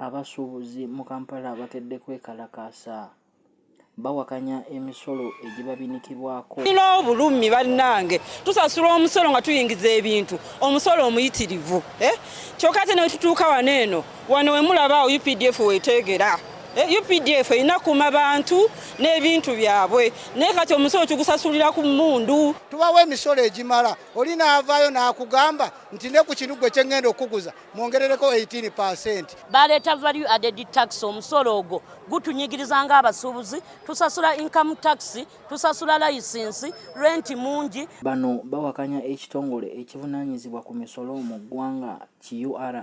abasuubuzi mu Kampala bakedde kwekalakaasa bawakanya emisolo egibabinikibwako tulina obulumi bannange tusasula omusolo nga tuyingiza ebintu omusolo omuyitirivu eh? kyokka ate newetutuuka wano eno wano wemulaba awo updf wetegera eh, updf erina kuma bantu n'ebintu byabwe naye kati omusolo tugusasulira ku mundu tubawo emisolo egimala oli naavaayo n'akugamba nti ne ku kinu gwe kyengenda okukuguza mwongerereko 18 percent baleeta value added tax omusolo ogwo gutunyigiriza ng'abasuubuzi tusasula income tax tusasula layisinsi renti mungi bano bawakanya ekitongole ekivunaanyizibwa ku misolo mu ggwanga QRA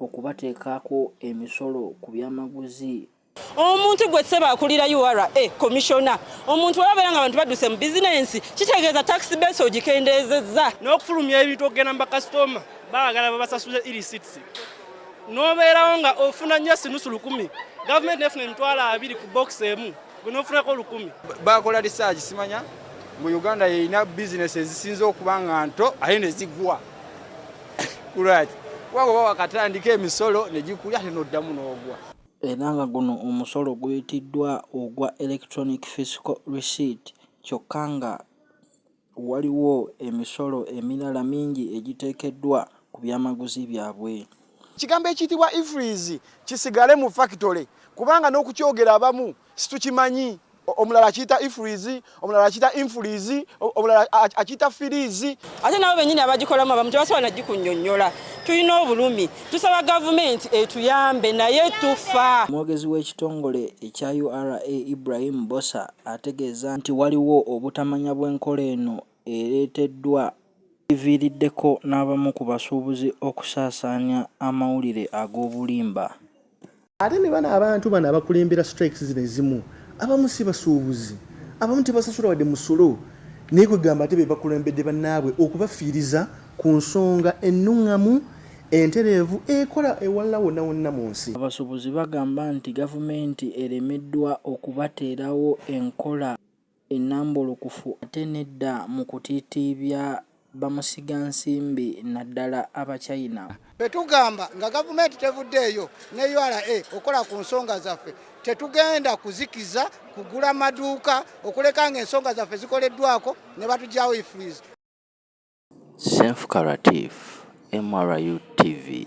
okubateekako emisolo ku byamaguzi. Omuntu gwe ssebo akulira ura komishona omuntu webabeera nga abantu badduse mu bizinensi kitegeeza takisi beesi ogikendeezezza n'okufulumya ebintu okugenda mu bakasitoma baagala babasasuze irisitsi n'obeerawo nga ofuna nnyo sinusu lukumi gavumenti nefuna emitwalo abiri ku bokisi emu gunofunako olukumi bakola research simanya mu uganda yeyina bizinesi ezisinza okuba nga nto aye nezigwa kulwaki waba oba wakatandika emisolo negikulya ate noddamu n'ogwa era nga guno omusolo guyitiddwa ogwa electronic physical receipt kyokka nga Waliwo emisolo emirala mingi egiteekeddwa ku byamaguzi byabwe. Ekigambo ekiyitibwa Ifreeze kisigale mu fakitole kubanga n'okukyogera abamu situkimanyi. Omulala akiyita Ifreeze, omulala akiyita Infreeze, omulala akiyita Firiizi. Ate nabo bennyini abagikolamu abamu tebasobola na gikunnyonnyola. Tulina obulumi. Tusaba Gavumenti etuyambe naye tufa. Omwogezi w'ekitongole ekya ura, Ibrahim Bbosa ategeeza nti waliwo obutamanya bw'enkola eno ereeteddwa ekiviiriddeko n'abamu ku basuubuzi okusaasaanya amawulire ag'obulimba. Ate ne bano abantu bano abakulembera strikes zino ezimu abamu si basuubuzi, abamu tebasasula wadde musolo naye kwegamba ate bebakulembedde banaabwe okubafiiriza. Ku nsonga ennungamu, entereevu ekola ewalala wonna wonna mu nsi. Abasubuzi bagamba nti gavumenti eremeddwa okubateerawo enkola enambulukufu ate nedda mu kutiitiibya bamusiga nsimbi naddala aba China. Betugamba nga gavumenti tevuddeeyo ne ura okukola ku nsonga zaffe, tetugenda kuzikiza kugula maduuka okuleka nga ensonga zaffe zikoleddwako ne batugyawo ifreeze. Senfuka Latif, MRU TV.